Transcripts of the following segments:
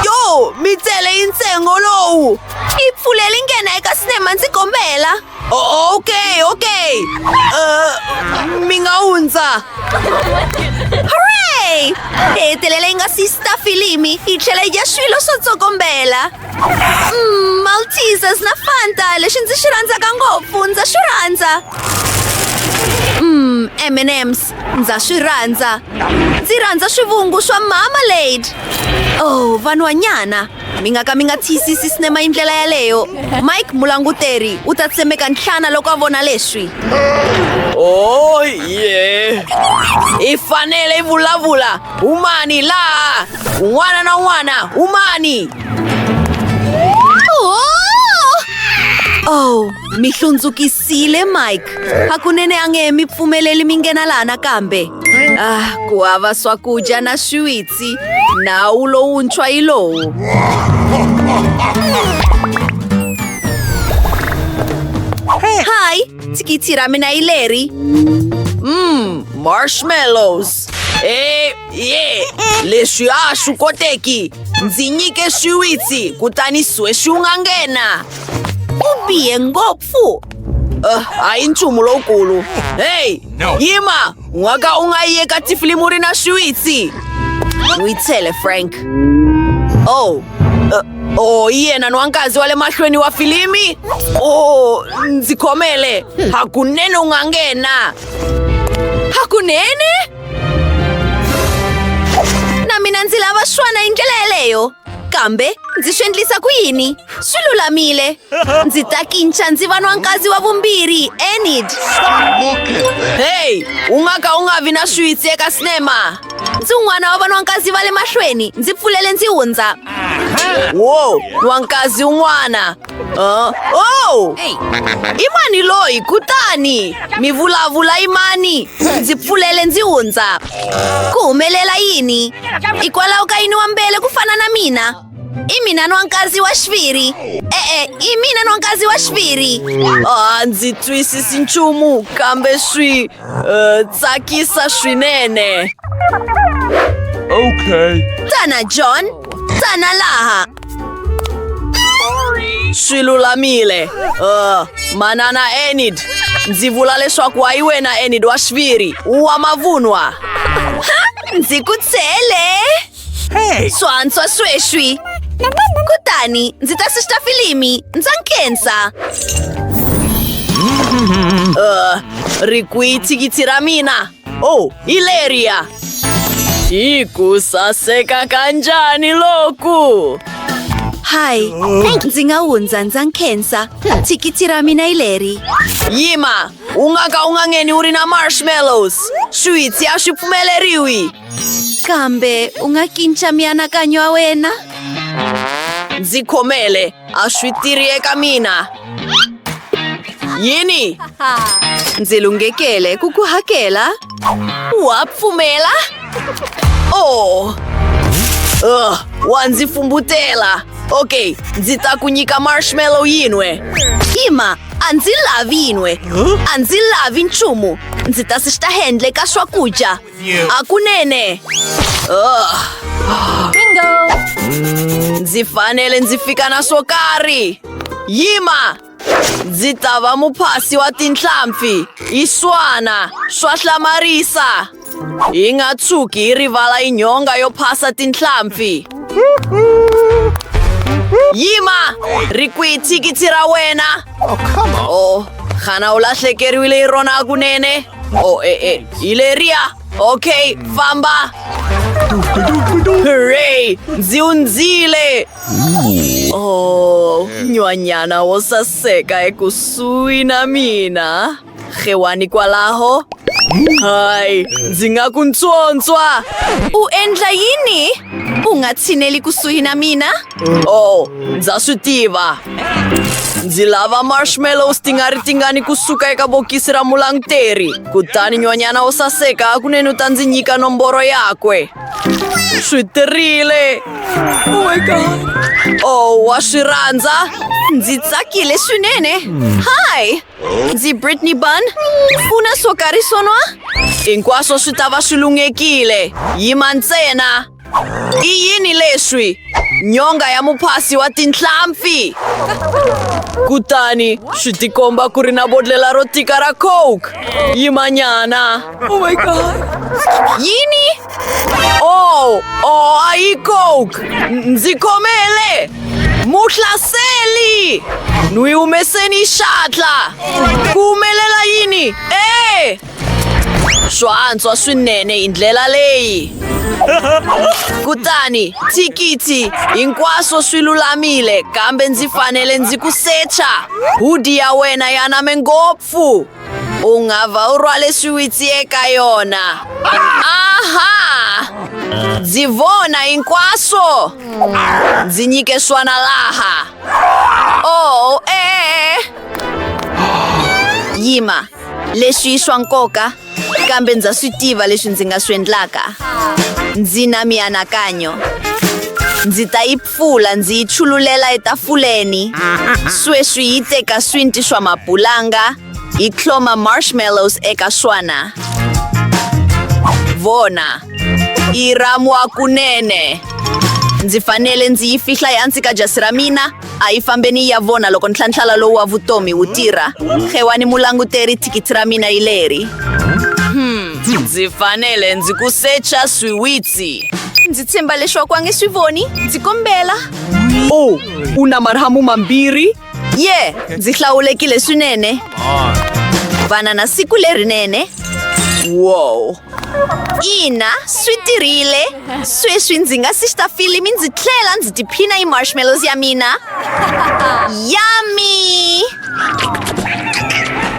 yo mi tsele yi ntsengo lowu yi pfuleli nghena eka sinema ndzi kombela ok ok uh, mi nga hundza hooray hi hetelela yi nga si sita filimi yi tlhela yi dya swilo swo tsokombela mm, maltesers na fanta lexi ndzi xi rhandzaka ngopfu ndza xi rhandza mm, m&ms Ndza swi rhandza. Ndzi rhandza swivungu swa mama Lady. Oh, vanhwanyana. Mi nga ka mi nga tiyisisi sinema hi ndlela yaleyo. Mike mulanguteri u ta tsemeka nhlana loko a vona leswi. Oh, ye. I fanele i vulavula. Humani laha. Un'wana na un'wana, humani. Oh! Oh, mi hlundzukisa siyile mike hakunene a nge he mi pfumeleli mi nghena laha nakambe ah ku hava swakudya na swiwitsi nawu lowuntshwa yi lowu hayi thikithi ra mina yi leri mm marshmallows e ye leswi a swi koteki ndzi nyike swiwitsi kutani swe swi nga nghena ku bihe ngopfu fu Uh, a hi nchumu lowukulu heyi no. yima n'waka u nga yi eka tifilimu ri na swiwitsi n'wi tshele frank oh uh, oh yena ni wankazi wa le mahlweni wa filimi oh ndzi khomele hakunene u nga nghena hakunene na mina ndzi lava swana hi ndlela yeleyo kambe ndzi swi endlisa ku yini swi lulamile ndzi ta kinca ndzi va nwankazi wa vumbirhi enid heyi u nga ka u nga vi na switsi eka sinema ndzi un'wana wa vanwankazi va le mahlweni ndzi pfulele ndzi hundza wo nwankazi un'wana Uh, oh! I mani loyi kutani mi vulavula i mani ndzi pfulele ndzi hundza ku humelela yini hikwalaho ka yini wa mbele ku fana na mina i mina nwankazi wa xiviri e-e i mina nwankazi wa xiviri a ndzi twisisi nchumu kambe swi uh, tsakisa swinene okay tana john tana laha swi lulamile uh, manana enid ndzi vula leswaku wa yi wena enid wa xiviri wa mavunwa ndzi ku tshele hey. swantswa sweswi kutani ndzi ta sista filimi ndza nkhensa uh, ri kwihi thikithi ra mina Oh, Hilaria! Hi ku saseka kanjani loku! Hi, ndzi nga hundza ndza nkhensa thikithi ra mina hi leri. Yima, u nga ka u nga ngheni u ri na marshmallows. Swiwitsi a swi pfumeleriwi. Kambe u nga kinca mianakanyo ya wena? Ndzi khomele. A swi tirhi eka mina. Yini? Ndzi lunghekele ku ku hakela. Wa pfumela? Oh! Uh, wa ndzi fumbutela. Ok, ndzi ta ku nyika marshmallow yin'we. Hima, a ndzi lavi yin'we. A ndzi lavi nchumu. Ndzi ta swi xihendle ka swakudya. akunene bingo ndzi fanele ndzi fika na swo karhi yima ndzi ta va muphasi wa tinhlampfi yi swana swa hlamarisa yi nga tshuki yi rivala yi nyonga yo phasa tinhlampfi yima ri kwihi thikithi ra wena o xana u lahlekeriwile hi rona kunene Oh, eh, eh. Ileria! Okay, famba! Hooray! Nziunzile! Oh, nywanyana wo saseka ekusuhi na mina. Rhewani kwalaho? Hayi, ndzi nga ku ntswontswa! U endla yini? U nga tshineli kusuhi na mina? Oh, ndza swi tiva ndzi lava marshmallows ti nga ri tingani kusuka eka bokisi ra mulanguteri kutani nyonyana wo saseka hakunene u ta ndzi nyika nomboro yakwe swi tirile oh my god oh wa swi rhandza ndzi tsakile swinene hi ndzi britney bun u na swo karhi swonwa hinkwaswo swi ta va swi lunghekile yima ntsena I yini leswi? Nyonga ya muphasi wa tinhlampfi! Kutani swi tikomba ku ri na bodlela ro tika ra coke. Yimanyana! Oh my god! Yini? Oh, oh, a yi coke! N- Ndzi khomele! Muhlaseli! N'wi humeseni xatla! Ku humelela yini? Eh! Swa antswa swinene hi ndlela leyi. Kutani, thikithi, hinkwaswo swi lulamile kambe ndzi fanele ndzi ku secha. Hudi ya wena ya name ngopfu. U nga va u rhwale swiwitsi eka yona. Aha! Ndzi vona hinkwaswo. Ndzi nyike swana laha. Oh, eh. Yima. Leswi i swa nkoka, kambe ndza swi tiva leswi ndzi nga swi endlaka. Ndzi na mianakanyo. Ndzi ta yi pfula ndzi yi chululela etafuleni. Sweswi yi teka swinti swa mapulanga, yi tlhoma marshmallows eka swona. Vona, yi ramwa kunene. Ndzi fanele ndzi yi fihla ehansi ka jasi ra mina. A yi fambeni yi ya vona loko ntlhantlhala lowu wa vutomi wu tirha. Xewani mulanguteri, thikithi ra mina yi leri. Hmm, ndzi fanele ndzi ku secha swiwitsi. Ndzi tshemba leswaku a nge swi voni. Ndzi kombela. O, u na marhamu mambirhi? Ye, ndzi hlawulekile swinene. Vana na siku lerinene. Wow. ina swi tirhile sweswi ndzi nga si xita filimi ndzi tlhela ndzi tiphina yi marshmallows ya mina yami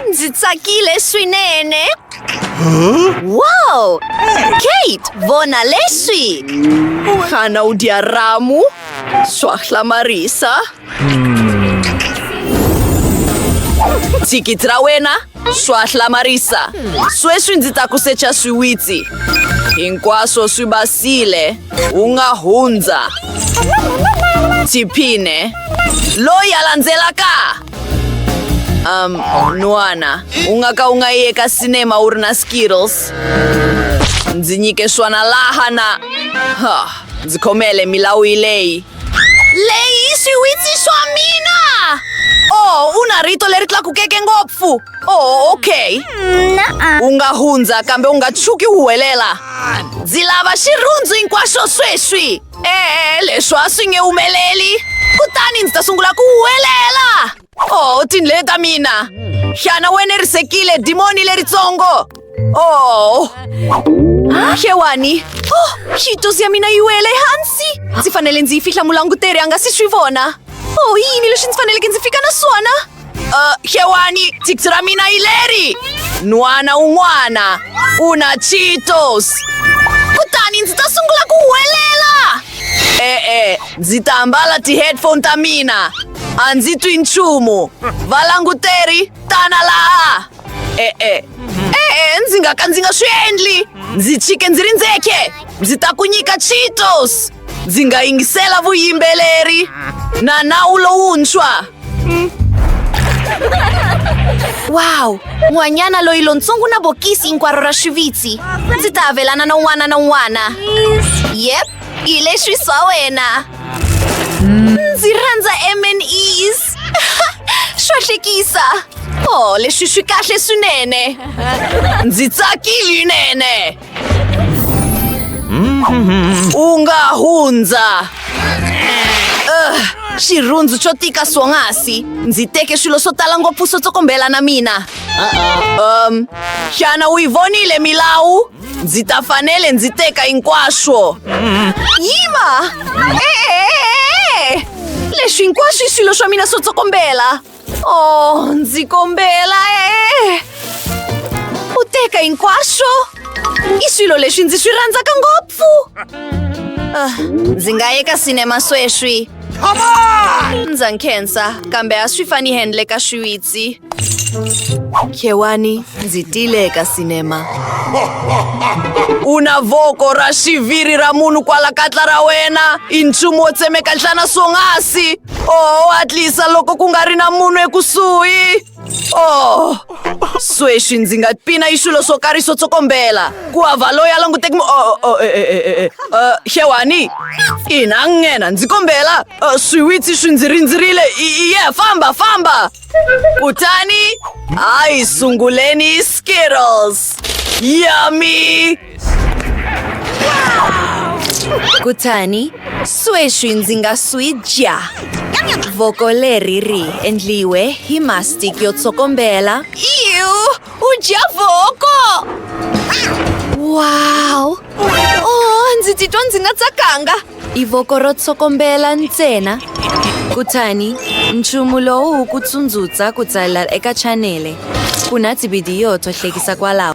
ndzi tsakile swinene wow kate vona leswi xana u dya ramu swa hlamarisa thikithi ra wena swa hlamarisa sweswi ndzi ta ku secha swiwitsi hinkwaswo swi basile u nga hundza tiphine loyi a landzelaka um nwana u nga ka u nga yi eka sinema u ri na skittles ndzi nyike swona laha na ha ndzi khomele milawu yi leyi Lei siwitsi swa mina oh u na rito leri tlakukeke ngopfu oh okay u nga hundza kambe u nga tshuki u huwelela ndzi lava xirhundzu hinkwaxo sweswi e-e leswi a swi nge humeleli kutani ndzi ta sungula ku huwelela Oh, tindlele ta mina. Xana wena risekile dimoni leritsongo? Oh. Xewani. Oh, xitusi ya mina yi wele hansi. Ndzi fanele ndzi yi fihla mulanguteri a nga si swi vona. Oh, yini leswi ndzi faneleke ndzi fika na swona? Uh, xewani, thiksi ra mina yi leri. N'wana un'wana u na Cheetos. Kutani ndzi ta sungula ku huwelela. E-e, ndzi ta ambala ti-headphone ta mina a ndzi twi nchumu valanguteri tana laha e-e e-e ndzi nga ka ndzi nga swi endli ndzi chike ndzi ri ndzeke ndzi ta ku nyika cheetos ndzi nga yingisela vuyimbeleri na nawu lowuntshwa Wow! N'wanyana loyi lontsongo na bokisi hinkwaro ra swivitsi. Ndzi ta avelana na un'wana na un'wana. Yep, hi leswi swa wena. Ndzi rhandza M&Es. Swa hlekisa. Oh, leswi swi kahle swinene. Ndzi tsakile nene. U nga hundza. Ugh, xirhundzu xo tika swonghasi ndzi teke swilo swo tala ngopfu swo tsokombela na mina um xana u yi vonile milawu ndzi ta fanele ndzi teka hinkwaswo yima e-e-e-e! leswi hinkwaswo i swilo swa mina swo tsokombela Oh, ndzi kombela e u teka hinkwaswo i swilo leswi ndzi swi rhandzaka ngopfu ah, ndzi nga ye ka sinema sweswi ndza nkhensa kambe a swi fani handle ka swiwitsi khewani ndzi tile ka sinema u na voko ra xiviri ra munhu kwala katla ra wena i nchumu wo tsemeka nhlana swonghasi Oh, hatlisa loko ku nga ri na munhu ekusuhi. Oh, sweswi ndzi nga pina hi swilo swo karhi swo tsokombela. Ku hava loyi a languteki mu... Oh, oh, eh, eh, eh, eh, eh. Uh, xewani. Ina, nghena, ndzi kombela. Uh, swiwitsi swi ndzi rindzerile. I- i- Yeah, famba, famba. Kutani, ai sunguleni Skittles. Yummy! Kutani, sweswi ndzi nga swi dya. Voko leri ri endliwe hi mastic yo tsokombela. Iu, u dya voko! Wow! Oh, ndzi titwa ndzi nga tsakanga. i voko ro tsokombela ntsena kutani nchumu lowu wu ku tsundzuxa ku tsalela eka chanele ku na tivhidiyo to hlekisa kwalaho